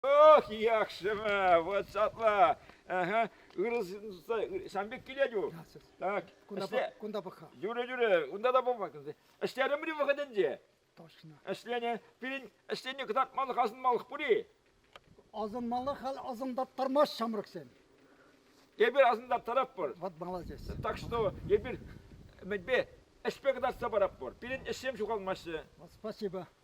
Ох, яхшыма, вот сапла. Ага. Сан пек килет-у. Так. Кунта пӑха. Юрӗ, юрӗ, унта та пӑма. Ӗҫтерӗмри вӑхӑтӗнче. Точно. Ӗҫлене, пирӗн ӗҫлене кӑтартмалӑх асӑнмалӑх пур-и? Асӑнмалӑх хал асӑнтаттармасть ҫамрӑксем. Эпир асӑнтаттаратпӑр. Вот молодец. Так что эпир мӗнпе ӗҫпе кӑтартса паратпӑр. Пирӗн ӗҫсем ҫухалмаҫҫӗ. Спасибо.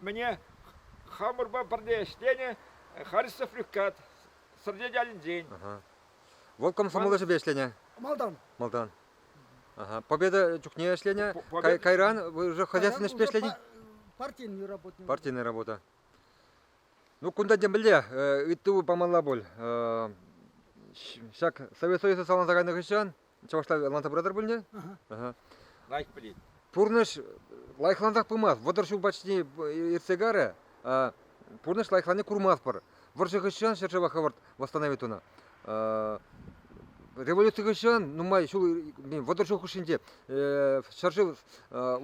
Мӗне хамӑрпа пӗрле ӗҫленӗ Харисов Люккат, Сӑрнет ялӗнчен. Вӑл комсомол ӗҫӗпе ӗҫленӗ. Малтан. Малтан. Ага. Победа чухне ӗҫленӗ. Победа- кайран вы уже хозяйственный ӗҫпе ӗҫленӗ? Партийный работник. Партийная работа. Ну, кунта темӗнле ыйту памалла пуль. Ҫак Совет Союза саланса кайнӑ хыҫҫан Чӑвашла ӑнланса пыратӑр пулне? Лайк пӗлет. Пурнӑҫ лайӑхлансах пымасть. Вӑтӑр ҫул почти иртсе карӗ. Пурнӑҫ лайӑхланни курмастпӑр. Вӑрҫӑ хыҫҫан ҫӗршыва хӑвӑрт восстановить тунӑ. Революци хыҫҫан нумай ҫул, вӑтӑр ҫул хушшинче ҫӗршыв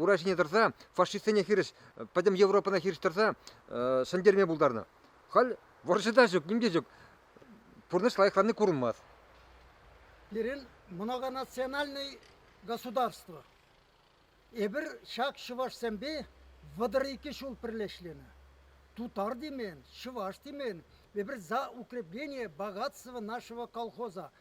ура ҫине тӑрса фашистсене хирӗҫ, пӗтӗм Европӑна хирӗҫ тӑрса ҫӗнтерме пултарнӑ. Халь вӑрҫӑ та ҫук, ним те ҫук. пурнӑҫ лайӑхланни курӑнмасть. Пирӗн многонациональный государство. Эпир ҫак чӑвашсемпе вӑтӑр икӗ ҫул пӗрле ӗҫленӗ. Тутар темен, чӑваш темен, эпир за укрепление богатства нашего колхоза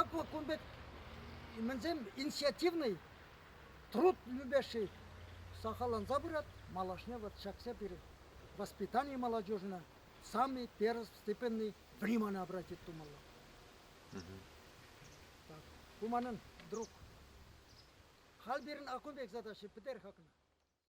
Акӑ кун пек мӗнсем инициативный труд любящий сахалланса пырать. Малашне вот ҫакса пирӗн воспитание молодежина самый первостепенный внимание обратить тумалла. Так, ку манӑн друг. Халь пирӗн акун пек задача пӗтер хакна.